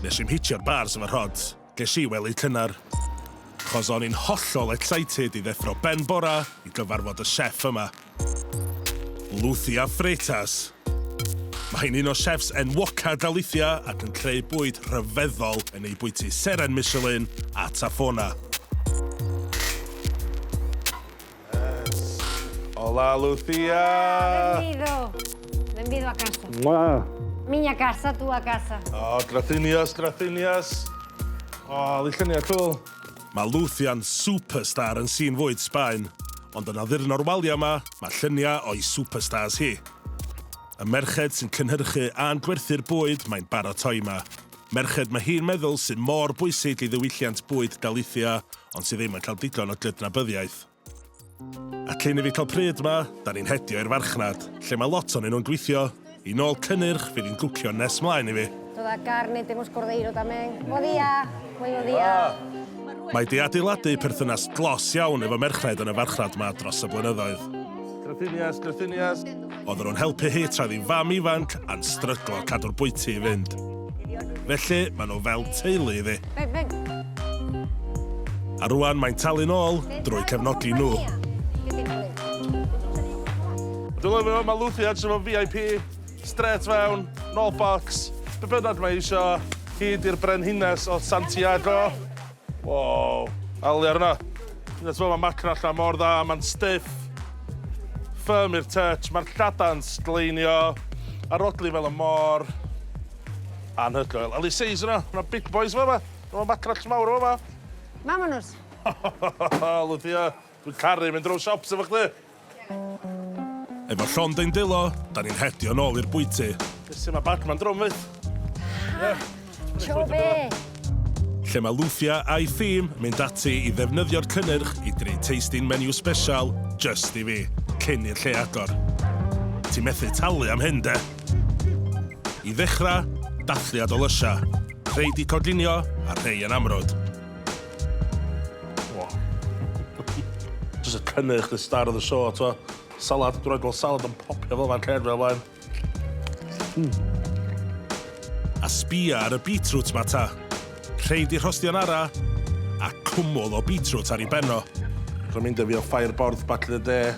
Nes i'm hitio'r bars efo rhods, ges i wely cynnar. Chos o'n i'n hollol excited i ddeffro ben bora i gyfarfod y chef yma. Luthia Freitas. Mae hi'n un o chefs enwoca Galicia ac yn creu bwyd rhyfeddol yn ei bwyty seren Michelin a Tafona. Hola, Lucía! Bienvenido! Bienvenido a casa. Ma. Miña casa, tu a casa. Oh, gracias, gracias. Oh, lluniau cwl. Mae Lucia'n superstar yn sîn fwyd Sbaen, ond yn addurno'r waliau yma, mae lluniau o'i superstars hi. Y merched sy'n cynhyrchu a'n gwerthu'r bwyd mae'n baratoi yma. Merched mae hi'n meddwl sydd mor bwysig i ddiwylliant bwyd Galicia, ond sydd ddim yn cael digon o gydnabyddiaeth. A cyn i fi cael pryd 'ma, 'da ni'n hedio i'r farchnad, lle mae lot onyn nhw'n gweithio, i nôl cynnyrch fydd hi'n gwcio nes 'mlaen i fi. Toda carne temos cordeiro tamén. Bo dia! Muy bo dia! Mae 'di adeiladu perthynas dlos iawn efo merched yn y farchnad 'ma dros y blynyddoedd. Graciñas, graciñas. oedden nhw'n helpu hi tra oedd hi'n fam ifanc a'n stryglo cadw'r bwyty i fynd. Felly, maen nhw fel teulu iddi. A rwan mae'n talu'n ôl drwy cefnogi nhw. Dwi'n lyfio fo, mae Lucy edrych efo VIP, straight fewn, no box, be bynnag mae eisiau, hyd i'r brenhines o Santiago. Wow, ail layer yna. Hyd at fo, ma' macra allan mor dda, ma'n stiff, firm i'r touch, ma'r lladau'n sgleinio, a'r odli fel y mor anhygoel. Ail size yna, ma' na big boys fama, ma' macrell mawr fama. Mam o nws. Lwyddiau, dwi'n caru mynd rownd siops efo chdi. Efo llond ein dwylo, da ni'n hedio nôl i'r bwyty. Jyst lle mae Batman drwm wyt? Ha! Tro be? Lle mae Lufia a'i thîm mynd ati i ddefnyddio'r cynnyrch i greu tasting menu sbesial jyst i fi, cyn i'r lle agor. Ti methu talu am hyn, de? I ddechrau, dathliad o lysiau. Rhei 'di coginio a rhei yn amrwd. Jyst y cynnyrch, the star of the show, t'o'? Salad, dwi'n rhaid gweld salad yn popio fel fan cefn fel blaen. Hmm. A sbia ar y beetroot ma ta. Rheid i rhostio'n ara, a cwmwl o beetroot ar ei benno. Rwy'n mynd â fi o Ffair Borth, Batley y De.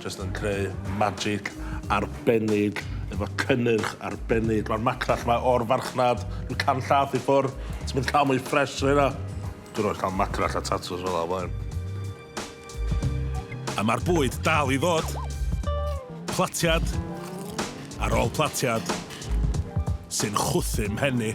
Jyst yn creu magic arbennig efo cynnyrch arbennig. Mae'r macrell yma o'r farchnad yn canllath i ffwr. Ti'n mynd cael mwy ffres na hynna. Dwi'n rhoi cael macrell a tatws fel yna blaen. A mae'r bwyd dal i ddod. Platiad ar ôl platiad sy'n chwythu mhen i.